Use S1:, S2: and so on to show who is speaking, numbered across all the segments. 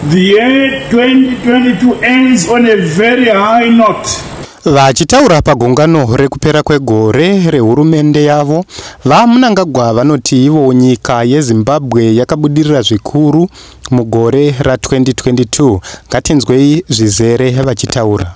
S1: The year 2022 ends on a very high note. Vachitaura
S2: pagungano rekupera kwegore rehurumende yavo, VaMnangagwa vanoti ivo nyika yeZimbabwe yakabudirira zvikuru mugore ra 2022. Ngatinzwei zvizere vachitaura.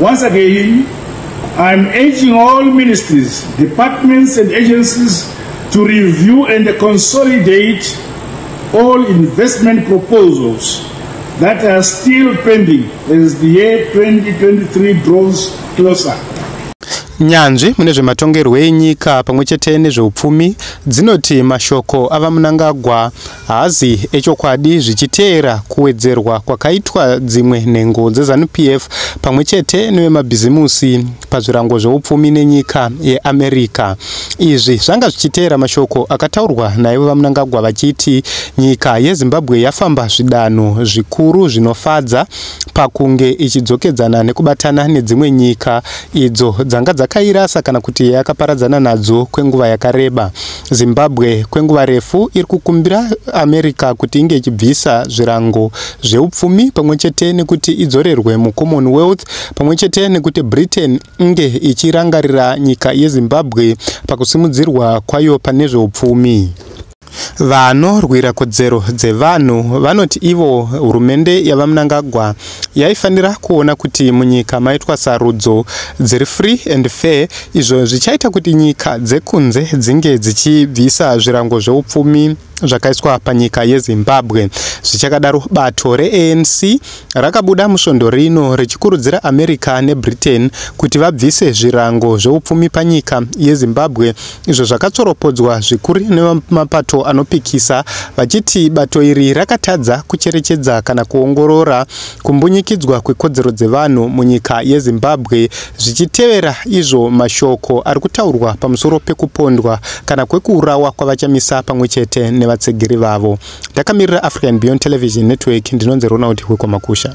S1: Once again, I am urging all ministries, departments and agencies to review and consolidate all investment proposals that are still pending as the year 2023 draws closer.
S2: nyanzvi mune zvematongerwo enyika pamwe chete nezveupfumi dzinoti mashoko avamunangagwa Hazi echokwadi zvichiteera kuwedzerwa kwakaitwa dzimwe nhengo dzeZanu-PF pamwe chete nevemabhizimusi pazvirango zveupfumi nenyika yeAmerica. Izvi zvanga zvichiteera mashoko akataurwa naivo VaMnangagwa vachiti nyika yeZimbabwe yafamba zvidanho zvikuru zvinofadza pakunge ichidzokedzana nekubatana nedzimwe nyika idzo dzanga dzakairasa kana kuti yakaparadzana nadzo kwenguva yakareba. Zimbabwe kwenguva refu iri kukumbira America kuti inge ichibvisa zvirango zveupfumi pamwe chete nekuti idzorerwe muCommonwealth pamwe chete nekuti Britain inge ichirangarira nyika yeZimbabwe pakusimudzirwa kwayo pane zveupfumi. Vanorwira kodzero dzevanhu vanoti ivo hurumende yaVaMnangagwa yaifanira kuona kuti munyika maitwa sarudzo dziri free and fair izvo zvichaita kuti nyika dzekunze dzinge dzichibvisa zvirango zveupfumi zvakaiswa panyika yezimbabwe zvichakadaro bato reanc rakabuda musvondo rino richikurudzira america nebritain kuti vabvise zvirango zveupfumi panyika yezimbabwe izvo zvakatsoropodzwa zvikuru nemapato anopikisa vachiti bato iri rakatadza kucherechedza kana kuongorora kumbunyikidzwa kwekodzero dzevanhu munyika yezimbabwe zvichitevera izvo mashoko ari kutaurwa pamusoro pekupondwa kana kwekuurawa kwavachamisa pamwe chete nevatsegiri vavo ndakamirira african beyond television network ndinonzi ronald hwekwamakusha